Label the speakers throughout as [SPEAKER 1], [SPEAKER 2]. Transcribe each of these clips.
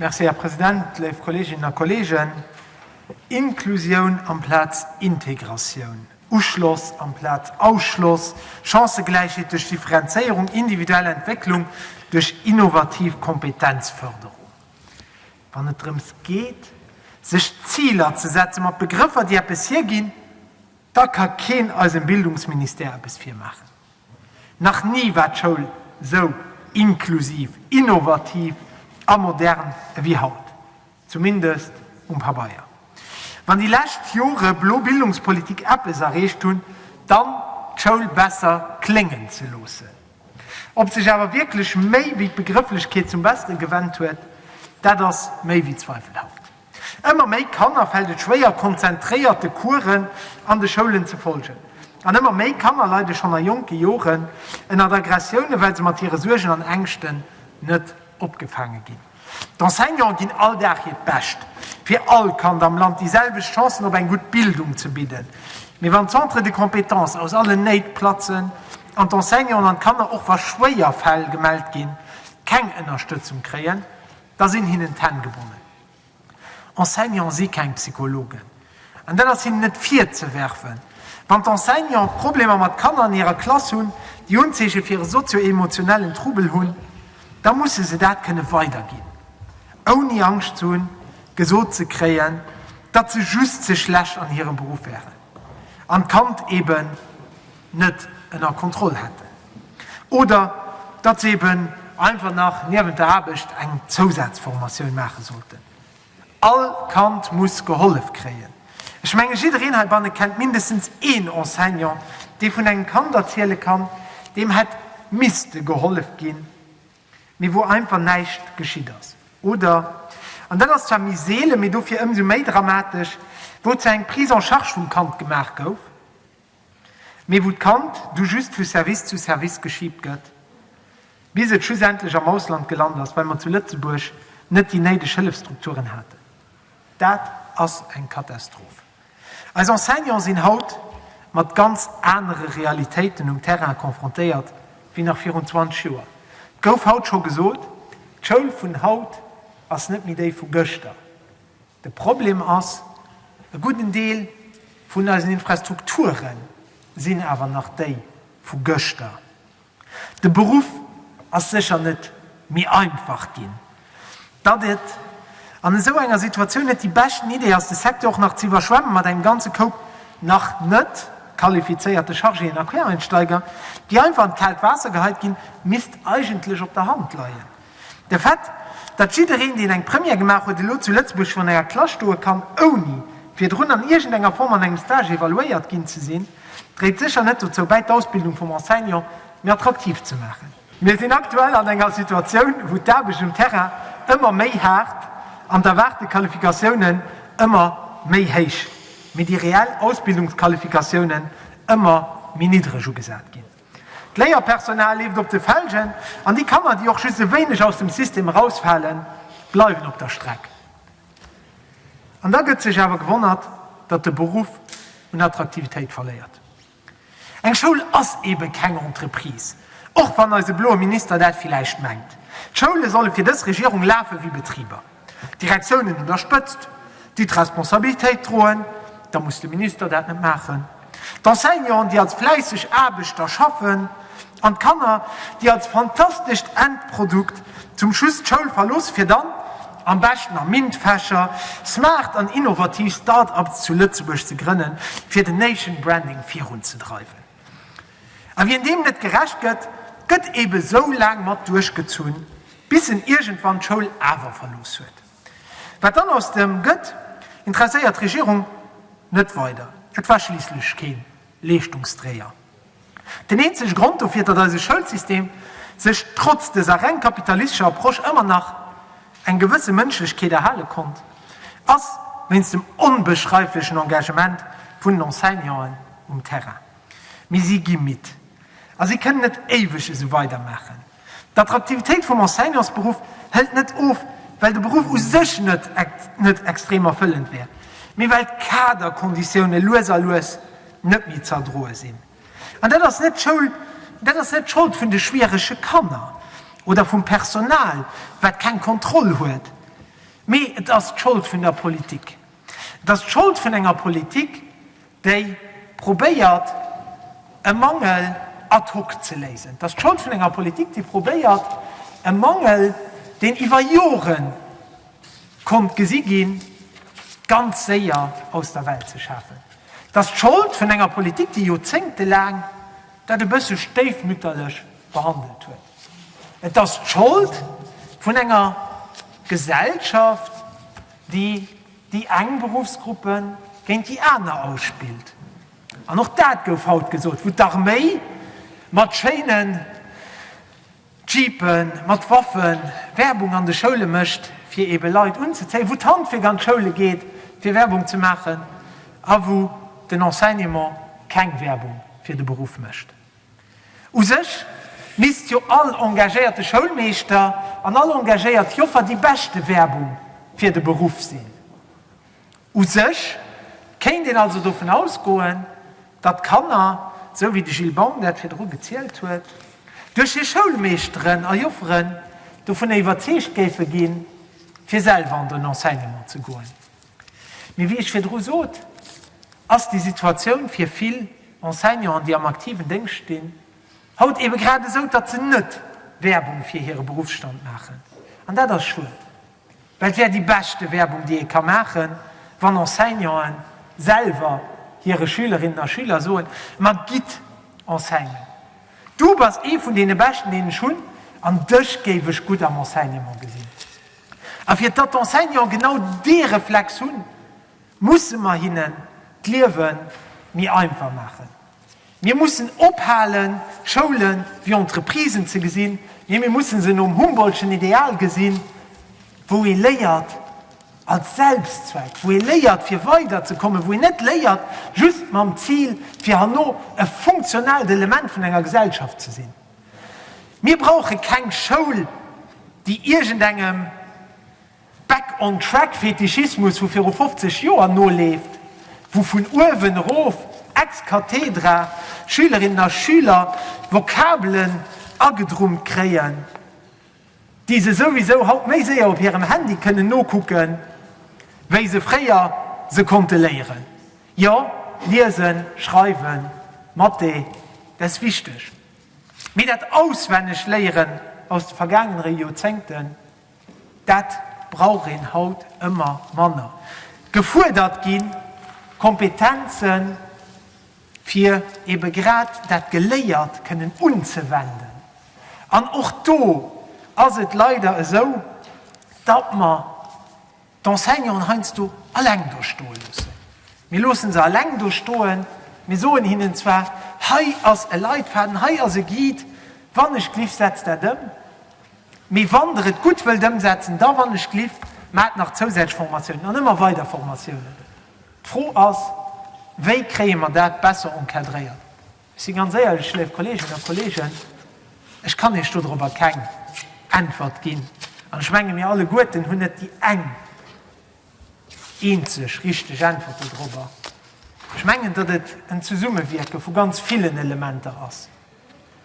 [SPEAKER 1] Merci, Här President. Léif Kolleeginnen a Kolleegen, Inklusioun amplaz Integratioun, Uschloss amplaz Ausschloss, Chancëgläichheet duerch Differenzéierung, individuell Entwécklung duerch innovativ Kompetenzförderung, wann et drëms geet, sech Ziler ze setzen, mat Begrëffer, déi eppes hierginn, da ka keen eisem Bildungsministère eppes virmaachen. Nach ni war d'Schoul sou inklusiv, innovativ a modern ewéi haut, zumindest um Pabeier. Wann déi lescht Jore blo Bildungspolitik eppes erreecht hunn, dann d'Schoul besser kléngen ze loossen. Ob sech awer wierklech méi wéi d'Begrëfflechkeet zum Bessere gewennt huet, dat ass méi wéi zweifelhaft. Ëmmer méi Kanner fält et schwéier, konzentréiert de Coursen an de Schoulen ze folgen. An ëmmer méi Kanner leide schonn a jonke Joren ënnert Aggressiounen, well se mat hire Suergen an Ängschten net opgefaange ginn. D'Enseignanten ginn all Dag hiert Bescht, fir all Kand am Land déi selwecht Chancen op eng gutt Bildung ze bidden. Mee wann d'Centres de compétences aus allen Néit platzen an d'Enseignanten an d'Kanner, och wa schwéier Fäll gemellt ginn, keng Ënnerstëtzung kréien, Da sinn hinnen d'Hänn gebonnen. Enseignanten si keng Psychologen. An dat ass hinnen net virzewerfen. Wann d'Enseignante Problemer mat Kanner an hirer Klass hunn, déi Unzeeche fir e sozio-emotionellen Trouble hunn, da musse se dat kënne weiderginn, ouni Angscht ze hunn, gesot ze kréien, datt se just ze schlecht an hirem Beruff wären an d'Kand eeben. net ënner Kontroll hätten oder datt se eben einfach nach niewent der Aarbecht eng Zousazformatioun maache sollten. All Kand muss gehollef kréien. Ech menge jiddereen heibanne kennt mindestens een Enseignant, dee vun engem Kand erziele kann, deem hätt misste gehollef ginn, mee wou einfach näischt geschitt ass oder, an dat ass zwar méi seele mee dofir ëmsou méi dramatesch, wou zwar eng Prise en charge vum Kand gemaach gouf, mee wou d'Kand du just vu Service zu Service geschiibt gëtt, bis et schlussendlech am Ausland gelant ass, well mer zu Lëtzebuerg net déi néideg Hëllefstrukturen haten. Dat ass eng Katastroph. Eis Enseignanten sinn haut mat ganz anere Realitéiten um Terrain confrontéiert wéi nach virun 20 Joer. Et gouf haut scho gesot, D'Schoul vun haut ass net méi déi vu gëschter. De Problem ass, e gudden Deel vun eisen Infrastrukture sinn awer nach déi vu gëschter. De Beruff ass sécher net méi einfach ginn. Datt et an esou enger Situatioun net déi beschten Idee ass, de Secteur och nach ze iwwerschwemmen mat engem ganze Koup nach net qualifizéierte Chargéen a Quereinsteiger, déi einfach an d'kaalt Waasser geheit ginn, misst eigentlech op der Hand leien. De Fait, datt jiddereen, deen eng Première gemaach huet, elo zu Lëtzebuerg virun enger Klass stoe kann, ouni virdrun an iergendenger Form an engem Stage evaluéiert ginn ze sinn, dréit sécher net dozou bäi, d'Ausbildung vum Enseignant méi attraktiv ze maachen. Mir sinn aktuell an enger Situatioun, wou d'Aarbecht um Terrain ëmmer méi haart an d'erwaarte Qualifikatiounen ëmmer méi héich, mee déi reell Ausbildungsqualifikatiounen ëmmer méi niddreg ugesat ginn. D'Léierpersonal leeft op de Felgen an déi Kanner, déi och just e wéineg aus dem System erausfalen, bleiwen op der Streck. An da gëtt sech awer gewonnert, datt de Beruff un Attraktivitéit verléiert. Eng Schoul ass eebe keng Entreprise, och wann eise bloe Minister dat villäicht mengt. D'Schoule solle fir dës Regierung lafe wéi Betriber. Direktiounen un der Spëtzt, déi d'Responsabilitéit droen, da muss de Minister dat net maachen. D'Enseignanten, déi als fläisseg Aarbechter schaffen, an d'Kanner, déi als fantastescht Endprodukt zum Schluss d'Schoul verloossen, fir dann, am beschten a MINT-Fächer, smart an innovativ Start-ups zu Lëtzebuerg ze grënnen, fir den Nation-Branding virunzedreiwen. A wien deem net gerecht gëtt, gëtt eebe esou laang mat duerchgezunn, bis en iergendwann d'Schoul awer verlooss huet. Wat dann aus dem gëtt, interesséiert d'Regierung net weider, et war schliisslech kee Leeschtungsdréier. Den eenzege Grond dofir, datt eise Schoulsystem sech trotz dëser reng kapitalistescher Approche ëmmer nach eng gewësse Mënschlechkeet erhale konnt, ass wéinst dem onbeschreiflechen Engagement vun den Enseignanten um Terrain. Mee si gi midd a si kënnen net éiweg esou weidermaachen. D'Attraktivitéit vum Enseignantsberuff hëlt net of, well de Beruff u sech net extrem erfëllend wär, mee well d'Kaderkonditioune lues a lues net méi z'erdroe sinn. An dat ass net d'Schould, dat ass net d'Schold vun de schwierege Kanner oder vum Personal, wat keng Kontroll huet, mee et ass d'Schold vun der Politik. Et ass d'Schold vun enger Politik, déi probéiert, e Mangel ad hoc ze léisen. Et ass d'Schold vun enger Politik, déi probéiert, e Mangel, deen iwwer Jore konnt gesi ginn, ganz séier aus der Welt ze schafen. Et ass d'Schold vun enger Politik, déi joerzéngtelaang dat e bësse stéifmütterlech behandelt huet. Et ass d'Schold vun enger Gesellschaft, déi déi eng Beruffsgruppe géint déi aner ausspillt. An och dat gouf haut gesot, wou d'Arméi mat schéinen Jeepen mat Waffen, Werbung an de Schoule mécht, fir ebe Leit unzezéien, wou d'Handwierk an d'Schoule geet, fir Werbung ze maachen, a wou den Enseignement keng Werbung fir de Beruff mécht. U sech misst jo all engagéierte Schoulmeeschter an all engagéiert Joffer déi beschte Werbung fir de Beruff sinn. U sech kéint een also dovun ausgoen, datt d'Kanner, esou wéi de Gilles Baum dat virdru gezielt huet, duerch hir Schoulmeeschteren a Jofferen dovun iwwerzeegt géife ginn, fir selwer an den Enseignement ze goen. Mee wéi ech virdru sot, ass déi Situatioun fir vill Enseignanten, déi am aktiven Déngscht stinn, haut eebe grad esou, datt se net Werbung fir hire Beruffsstand maachen. An dat ass schued. Well et wär déi beschte Werbung, déi ee ka maachen, wann Enseignanten selwer hire Schülerinnen a Schüler soen, Ma gitt enseignen! Du bass ee vun deene Beschten, deen ech hunn, an dech géif ech gutt am Enseignement gesinn. A fir datt d'Enseignanten genau dee Reflex hunn, musse mer hinnen d'Liewe méi einfach maachen. Mir mussen ophalen, Schoulen wéi Entreprisen ze gesinn, mee mir mussen se nom Humboldtschen Ideal gesinn, wou ee léiert als Selbstzweck, wou ee léiert fir weider ze kommen, wou een net léiert just mam Zil fir herno e funktionaalt Element vun enger Gesellschaft ze sinn. Mir brauche keng Schoul, déi iergendengem. Back on Track Fetischismus vu viru 50 Joer noleeft, wou vun uewen erof, ex cathedra, Schülerinnen a Schüler Vokabelen agedrummt kréien, déi se souwisou haut méi séier op hirem Handy kënnen nokucken, wéi se fréier se konnte léieren. Jo, liesen, schreiwen, Mathé, dat ass wichteg, mee dat Auswennegléieren aus de vergaangenere Joerzéngten, Dat brauch een haut ëmmer manner. Gefuerdert gi Kompetenzen, fir eebe grad dat Geléiert kënnen unzewenden. An och do ass et leider esou, datt mer d'Enseignanten heiansdo alleng do stoe loossen. Mir loosse se alleng do stoen, mir soen hinnen zwar, hei ass e Leitfaden, hei ass e Guide, wann ech gliff, setzt dat ëm, mee wann Der et gutt wëllt ëmsetzen, da wann ech gliff, maacht nach zousätzlech Formatiounen an ëmmer weider Formatiounen. D'Fro ass, wéi kréie mer dat besser encadréiert? Ech si ganz éierlech, léif Kolleeginnen a Kolleegen, ech kann Iech dodorobber keng Äntwert ginn. An ech menge mir alleguerten hunn net déi eng eenzeg richteg Äntwert dodorobber. Ech mengen, datt et en Zesummewierke vu ganz villen Elementer ass,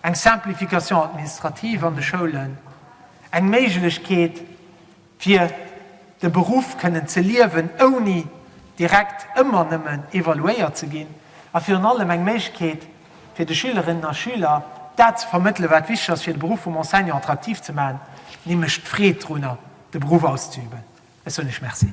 [SPEAKER 1] eng Simplification administrative an de Schoulen, eng Méiglechkeet, fir de Beruff kënnen ze liewen, ouni direkt ëmmer nëmmen evaluéiert ze ginn, a virun allem eng Méiglechkeet fir de Schülerinnen a Schüler, dat ze vermëttele wat wichteg ass, fir de Beruff vum Enseignant attraktiv ze maachen, nämlech d'Freed drunner, de Beruff auszeüben. Ech soen Iech Merci.